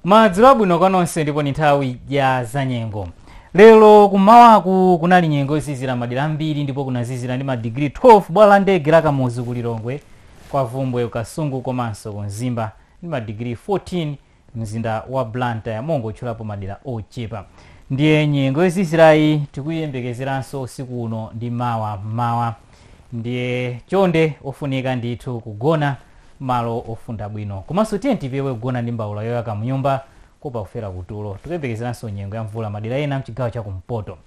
madzulo abwino kwa nonse ndipo ndi nthawi ya zanyengo lero kummawaku kunali nyengo yozizira madera ambiri ndipo kunazizira ndi madigiri 12 bwalo la ndege la kamuzu ku lilongwe kwa bvumbwe ku kasungu komanso ku mzimba ndi madigiri 14 mzinda wa blantyre pongotchulapo madera ochepa ndiye nyengo yozizirayi tikuyembekezeranso usiku uno ndi mawa mmawa ndiye chonde ofunika ndithu kugona malo ofunda bwino komanso tiyeni tipewe kugona ndi mbaula yoyaka mnyumba kuopa kufera kutulo tikuyembekezeranso nyengo ya mvula madera ena mchigawo cha kumpoto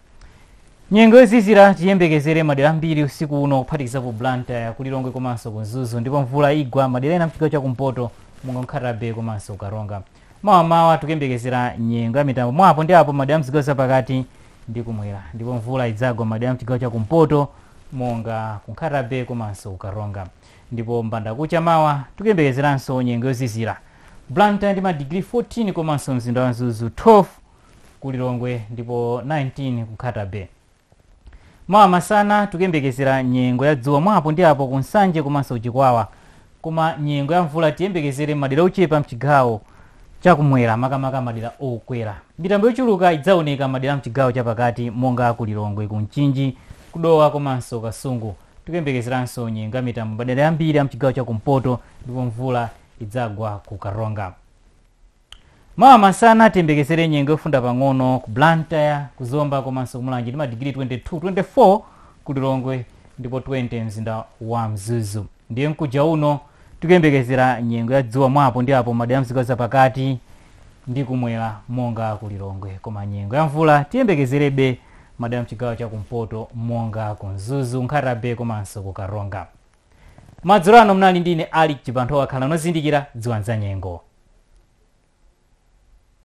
nyengo yozizira tiyembekezere madera ambiri usiku uno kuphatikiza ku blantyre ku lilongwe komanso ku mzuzu ndipo mvula igwa madera ena mchigawo cha kumpoto monga nkhata bay komanso karonga Mawa mmawa tikuyembekezera nyengo ya mitambo mwa apo ndi apo madera mzigawo zapakati ndi kumwera ndipo mvula idzagwa madera mchigawo cha kumpoto monga ku Nkhata-bay komanso ku Karonga ndipo mbanda kucha mawa tikuyembekezeranso nyengo yozizira Blantyre ndi madigiri 14 komanso mzinda wa Mzuzu 12 ku Lilongwe ndipo 19 ku Nkhata-bay. Mawa masana tikuyembekezera nyengo ya dzuwa mwa apo ndi apo ku Nsanje komanso ku Chikwawa. Koma nyengo ya mvula tiyembekezere m'madera ochepa m'chigawo chakumwera makamaka madera okwera. Mitambo yochuluka idzaoneka m'madera a m'chigawo chapakati monga a ku Lilongwe, ku Mchinji, ku Dowa komanso Kasungu. Tikuyembekezeranso nyengo ya mitambo m'madera ambiri a m'chigawo chakumpoto ndipo mvula idzagwa ku Karonga. Mawa masana tiyembekezere nyengo yofunda pang'ono ku Blantyre, ku Zomba komanso ku Mulanje ndi madigiri 22, 24 ku Lilongwe ndipo 20 mzinda wa Mzuzu. Ndiye mkuja uno tikuyembekezera nyengo ya dzuwa mwa apo ndi apo madera a mzigawo zapakati ndi kumwera monga ku Lilongwe. Koma nyengo ya mvula tiyembekezerebe madera mchigawo cha kumpoto monga ku Mzuzu, Nkhata Bay komanso ku Karonga. madzulo ano munali ndi ine alick chibanthowa khalani ozindikira dziwani za nyengo